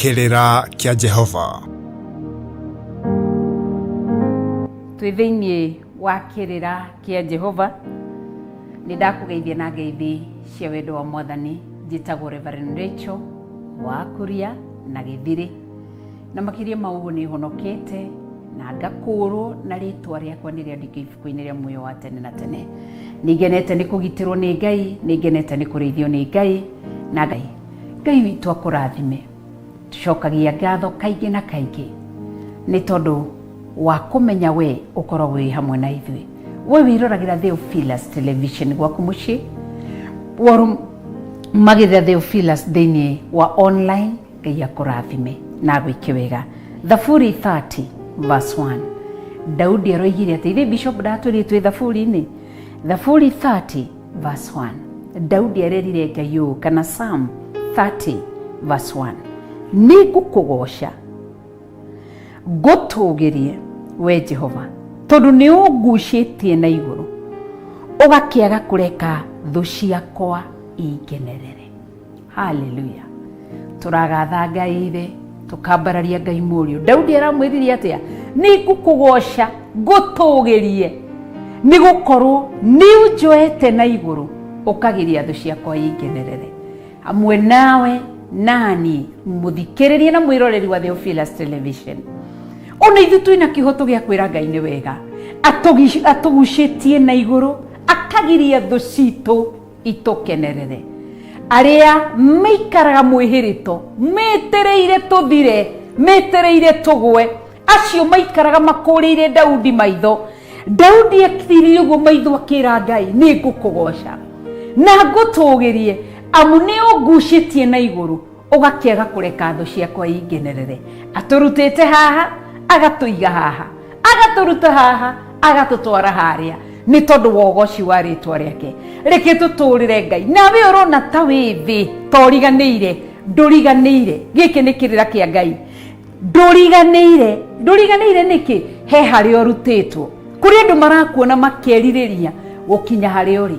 kĩrĩra kĩa jehova twĩ thĩinĩ wa kĩrĩra kĩa jehova nĩ ndakũgeithia na ngeithi cia wendo wa mwathani njĩtagwo reverend rachel wa kuria na gĩthirĩ na makĩria ma ũguo nĩ honokete na ngakũũrwo na rĩtwa rĩakwa nĩ rĩandĩke ibuku-inĩ rĩa muoyo wa tene na tene nĩ ngenete nĩ kũgitĩrwo nĩ ngai nĩ ngenete nĩ kũrĩithio nĩ ngai na ngai Ngai witũ akũrathime. Tũcokagia ngatho kaingĩ na kaingĩ nĩ tondũ wa kũmenya we ũkoragwo wĩ hamwe na ithuĩ. We wĩroragĩra Theophilus Television gwaku mũciĩ, worũmagĩrĩra Theophilus thĩinĩ wa online, Ngai akũrathime na agwĩke wega. Thaburi 30 verse 1. Daudi aroigire atĩ, ithe Bishop ndatwĩrĩtwo ĩ Thaburi-inĩ? Thaburi 30 Verse 1. daudi arerire ngai ũũ kana sam 30 verse 1 nĩ ngũkũgoca ngũtũgĩrie we jehova tondũ nĩ ũngucĩtie na igũrũ ũgakĩaga kũreka thũ ciakwa ingenerere haleluya tũragatha ngai thĩ tũkambararia ngai mũriũ daudi aramwĩririe atĩa nĩ ngũkũgoca ngũtũgĩrie nĩ gũkorwo nĩ ũnjoete na igũrũ ũkagiria thũ ciakwa ingenerere hamwe nawe nani mũthikĩrĩrie na mwĩroreri wa Theophilus television ona ithu twina kihoto gĩa kwĩra ngai nĩ wega atũgucĩtie na igũrũ akagiria thũ citũ Itũkenerere. Arĩa maikaraga mwĩhĩrĩto, metereire tũthire, metereire tũgwe, acio maikaraga makũrĩire Daudi maitho. Daudi ekirire ũguo maitho akĩra Ngai, nĩ ngũkũgoca na ngũtũgĩrie, amu nĩ ũngucĩtie na igũrũ. ũgakĩaga kũreka thũ ciakwa ingenerere atũrutĩte haha agatũiga haha agatũruta haha agatũtwara harĩa nĩ tondũ wa ũgoci wa rĩtwa rĩake reke tũtũrĩre ngai nawe ũrona ta wĩ thĩ toriganĩire ndũriganĩire gĩkĩ nĩ kĩrĩra kĩa ngai ndũriganĩire ndũriganĩire nĩkĩ he harĩa ũrutĩtwo kũrĩ andũ marakuona makerirĩria gũkinya harĩa ũrĩ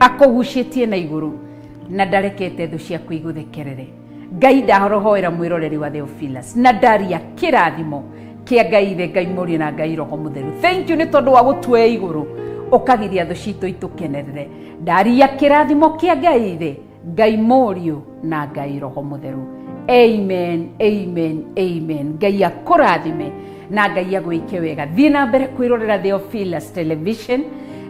akũgucĩtie na igũrũ na ndarekete thũ ciaku igũthekerere ngai ndarohoera mwĩroreri wa theophilus na ndaria kĩrathimo kĩa ngai ithe ngai mũriũ na ngai roho mũtheru thenk you nĩ tondũ wa gũtuoya igũrũ ũkagiria thũ citũ itũkenerere ndaria kĩrathimo kĩa ngai ithe ngai mũriũ na ngai roho mũtheru amen amen amen ngai akũrathime na ngai agwĩke wega thiĩ na mbere kwĩrorera theophilus television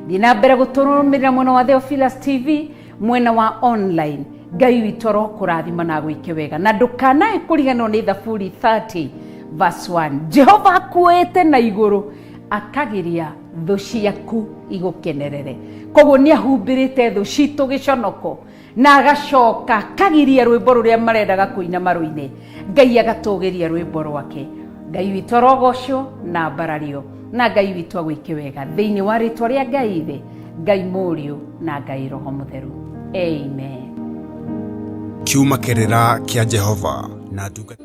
thiĩ na mbere gũtũrũmĩrĩra mwena wa theophilus tv mwena wa online ngai witũ arokũrathima na agwĩke wega na ndũkanae kũriganĩrwo nĩ thaburi 30 verse 1 jehova akuoete na igũrũ akagiria thũ ciaku igũkenerere koguo nĩ ahumbĩrĩte thũ citũ gĩconoko na agacoka kagiria rwĩmbo rũrĩa marendaga kũina marũine ngai agatũgĩria rwĩmbo rwake ngai witũ arogocwo na mbarario na ngai witũ agwĩke wega thĩinĩ wa rĩtwa rĩa ngai thĩ ngai mũriũ na ngai roho mũtheru amen kiuma kĩrĩra kĩa jehova na ndungata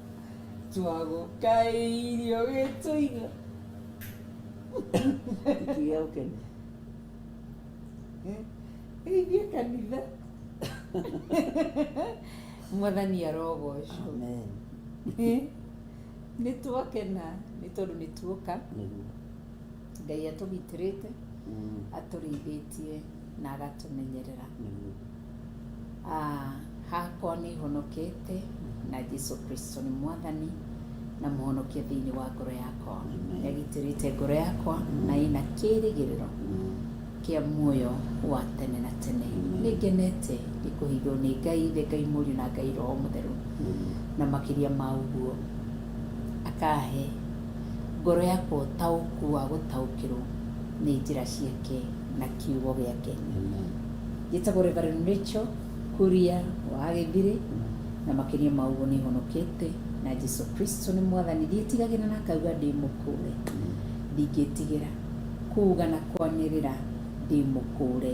Twagũkaĩirio gĩtũiga. Ikiga ũkeni. Geithia kanitha. Mwathani arogocwo. Amen. Nĩ twakena nĩ tondũ nĩ tuoka. Nĩguo. Ngai atũgitĩrĩte, atũrĩithĩtie na agatũmenyerera. Ah, hakwa nĩ honokete na Jesu Kristo nĩ mwathani na mũhonokia thĩinĩ wa ngoro yakwa. Amen. Nĩ agitĩrĩte ngoro yakwa na ĩna kĩĩrĩgĩrĩro kĩa muoyo wa tene na tene. Amen. Nĩ ngenete nĩ kũhithwo nĩ Ngai Ithe, Ngai Mũriũ na Ngai Roho Mũtheru na makĩria ma ũguo akahe Ngoro yakwa ũtaũku wa gũtaũkĩrwo nĩ njĩra ciake na kiugo gĩake. Njĩtagwo Reverend Rachel Kuria wa Gĩthirĩ, na makĩria ma ũguo nĩ honokete na Jesu Kristo nĩ mwathani. Ndiĩtigagĩra na ngauga ndĩ mũkũũre, ndingĩtigĩra kuuga na kwanĩrĩra ndĩ mũkũũre,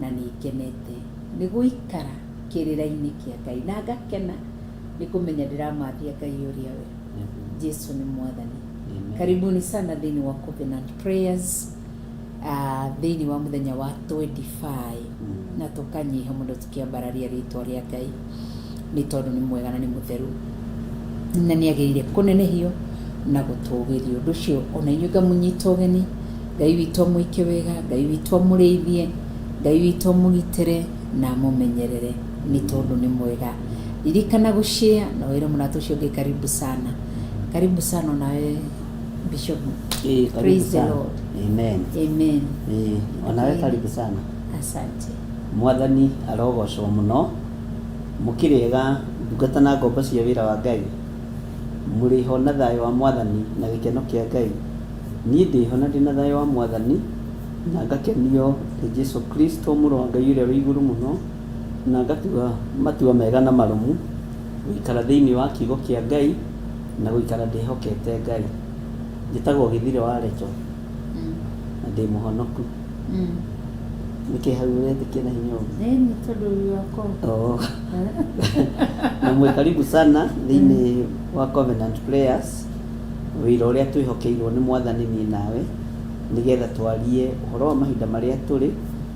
na nĩ ngenete nĩ gũikara kĩrĩra-inĩ kĩa Ngai, na ngakena nĩ kũmenya ndĩramathia Ngai ũrĩa we. jesu nĩ mwathani Amen. karibuni sana thĩinĩ wa covenant prayers uh, thĩinĩ wa mũthenya wa 25 Mm. na tũkanyiha mũno tũkĩambararia rĩtwa rĩa ngai nĩ tondũ nĩ mwega na nĩ mũtheru na nĩ agĩrĩire kũnenehio na gũtũgĩrio ũndũ ũcio ona inyuĩ ngamũnyita ũgeni ngai witũ amwĩke wega ngai witũ amũrĩithie ngai witũ amũgitĩre na amũmenyerere Nĩ tondũ nĩ mwega. Ririkana gũ share na wĩre mũrata ũcio ũngĩ karibu sana. Karibu sana onawe Bishop. Ĩĩ, karibu Praise the sana. Lord. Amen. Amen. Ĩĩ, onawe Ĩĩ. karibu sana Asante. mwathani arogocwo mũno mũkĩrĩega ndungata na ngombo cia wĩra wa ngai mũrĩ ho na thayũ wa mwathani na gĩkeno kĩa ngai niĩ ndĩ ho na ndĩ na thayũ wa mwathani na ngakenio nĩ jesu kristo mũrũ wa ngai ũrĩa wĩ igũrũ mũno Na ngatua matua mega na marũmu, gũikara thĩinĩ wa kiugo kĩa Ngai, na gũikara ndĩhokete Ngai. Njĩtagwo Gĩthirĩ wa Recho, na ndĩ mũhonoku. Nĩ kĩĩ hau ũrenda kĩna hinya ũguo? Ĩ, nĩ tondũ ũrĩ wakwa. Oh. na mwĩ karibu sana thĩinĩ wa covenant prayers wĩra ũrĩa twĩhokeirwo nĩ mwathani niĩ nawe nĩgetha twarie ũhoro wa mahinda marĩa tũrĩ